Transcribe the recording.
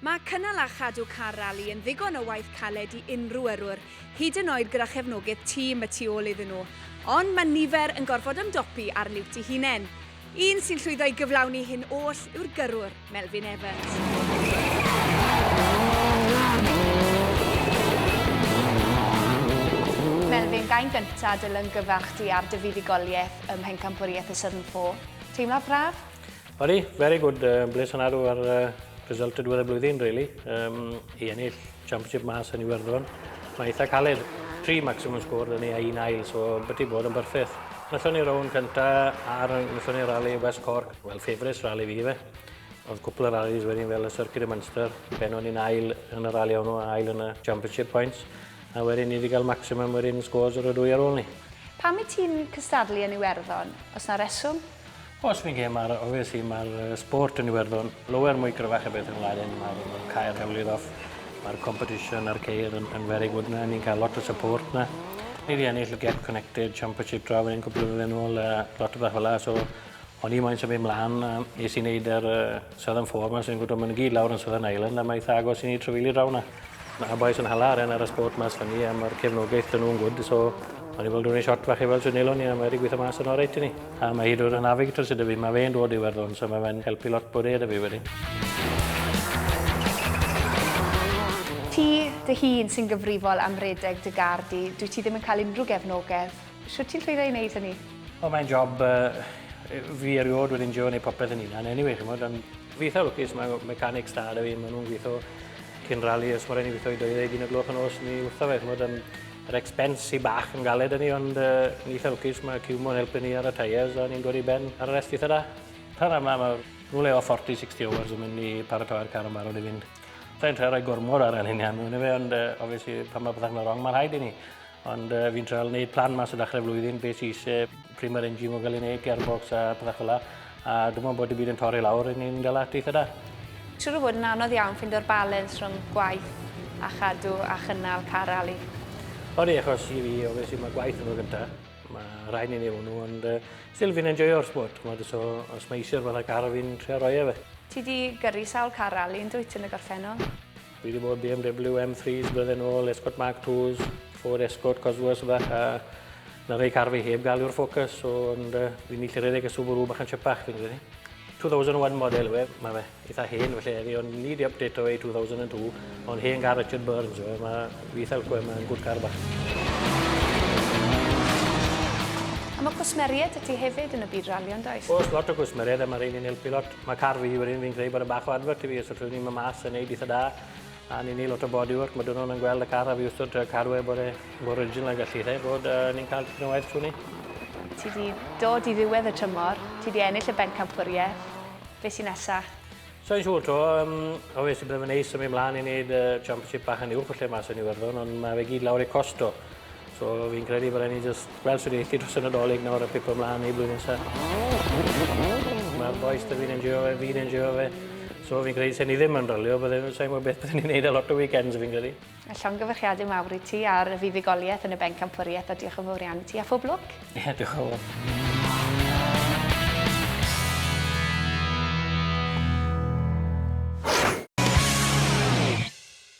Mae cynnal a chadw car rali yn ddigon o waith caled i unrhyw yrrwr, hyd yn oed gyda chefnogaeth tîm y tu ôl iddyn nhw. Ond mae nifer yn gorfod ymdopi â'r liwt ei hunain. Un sy'n llwyddo i gyflawni hyn oll yw'r gyrrwr, Melvin Evans. Melvin, gân gyntaf dy lyngyfarch di ar dy fuddugoliaeth ym Mhencampwriaeth y Southern Four. Teimlad braf? Odi, very good, uh, bles yn arw ar uh, result y diwedd y blwyddyn, really. Um, I ennill championship mas yn Iwerddon, mae eitha caled. Tri maximum score dyn ni a un ail, so byti bod yn byrffeth. Nethon ni rown cynta ar nethon ni rally West Cork, well, favourites rally fi fe. Oedd cwpl o rallies wedyn fel y Circuit y Munster, pen o'n i'n ail yn y rally o'n nhw, ail yn y championship points. A wedyn ni wedi cael maximum wedyn scores ar y dwy ar ôl ni. Pam i ti'n cystadlu yn Iwerddon, os na reswm? Os fi'n gêm ar, obviously, mae'r sport yn Iwerddon lower mwy gryfach y beth yn Laren. Mae'r ma cael hewlydd off, mae'r competition a'r ceir yn, yn very good na, ni'n cael lot o support na. Ni wedi ennill y Get Connected Championship draw yn ein cwbl o flynedd yn ôl, uh, lot o beth fel so o'n i moyn symud mlaen, a nes i wneud yr uh, Southern Four yma, sy'n gwybod, mae'n gyd lawr yn Southern Island, a mae eitha agos i ni trefili draw na. Mae y bois yn hala arian ar y sport mas fan ni am yr cefnogaeth dyn nhw'n gwrdd. So, o'n i fel dwi'n ei shot fach i fel sy'n elon ni a mae wedi gweithio mas yn oreit i ni. A mae hyd o'r navigator sydd fi, mae fe'n dod i werddon, so mae fe'n helpu lot bod e da fi wedi. Ti dy hun sy'n gyfrifol am redeg dy gar di, dwyt ti ddim yn cael unrhyw gefnogaeth. Shwt ti'n llwyddo i wneud hynny? O, mae'n job fi erioed wedi enjoio wneud popeth yn hunan anyway, chimod, ond... Fi eitha lwcus, mae mechanics da da fi, maen nhw'n gweithio cyn rali, os mae rhaid ni weithio i 21 o gloch yn os, ni wrtho fe, chymod, yn, yr expense i bach yn galed yn ni, ond uh, ni eitha lwcus, mae Cumo'n helpu ni ar y tyres, a ni'n dod i ben ar y rest eitha da. Pan yma, mae nhw'n leo 40-60 hours yn mynd i paratoi'r car yn barod i fynd. Fe'n trio rhoi gormod ar yr hynny, ond uh, obviously, pan mae pethau'n mynd wrong, mae'n rhaid i ni. Ond uh, fi'n treol wneud plan mas o ddechrau flwyddyn, beth sy'n eisiau, pryd mae'r engine yn cael ei wneud, gearbox a pethau fel A dim ond bod y byd yn torri lawr, yn ni'n gael at eitha da. Siwr o fod yn anodd iawn ffindo'r balens rhwng gwaith a chadw a chynnal car ali. Odi, achos i fi, obviously, mae gwaith yn fy gyntaf. Mae rhaid ni'n ei hwnnw, ond uh, still fi'n enjoyo'r sport. Mae so, os mae eisiau'r fath o car, fi'n trio roi e fe. Ti di gyrru sawl car ali yn dwyt yn y gorffennol? Fi wedi bod BMW M3s blwyddyn nôl, Escort Mark 2s, Ford Escort, Cosworth a bach, a na rhai car fi heb gael yw'r Focus, so ond uh, fi'n ni llyredeg y Subaru bach yn chypach fi'n credu. 2001 model yw e, mae fe eitha hen felly eddi, ond ni di update o e 2002, ond hen gar Richard Burns yw e, mae fi eitha lco e, mae'n gwrdd car bach. A mae cwsmeriaid y ti hefyd yn y byd ralio, yn does? Oes, lot o gwsmeriaid a mae rhain yn helpu lot. Mae car fi wedyn, fi'n credu bod e bach o advert i fi, os allwn ni ma mas yn neud itha da, a ni'n neud lot o bodywork, mae dynon yn gweld y car a fi wrthod uh, cadw e bod e mor original ag allu e, bod uh, ni'n cael tipyn o waith trwy ni. Ti di dod i ddiwedd y tymor, ti di ennill y bencampwriaeth, beth sy'n nesaf? Sa'n siŵr to, um, o fe sy'n brefyn neis yn mynd mlaen i wneud uh, championship bach yn uwch o lle mas yn Iwerddon, ond mae fe gyd lawr ei costo. So fi'n credu bod rhaid ni jyst gweld sut eith hi dros y Nadolig nawr a pipo mlaen i blwyddyn nesa. Mae'r bois da fi'n enjoyo fe, fi'n enjoyo fe. So fi'n credu se ni ddim yn rylio, bydde, sa'n gwybod beth bydden ni'n neud a lot o weekends fi'n credu. A llongyfarchiadau mawr i ti ar y fuddugoliaeth yn y bencampwriaeth a diolch yn fawr iawn i ti a phob lwc. Ie, yeah, diolch yn fawr.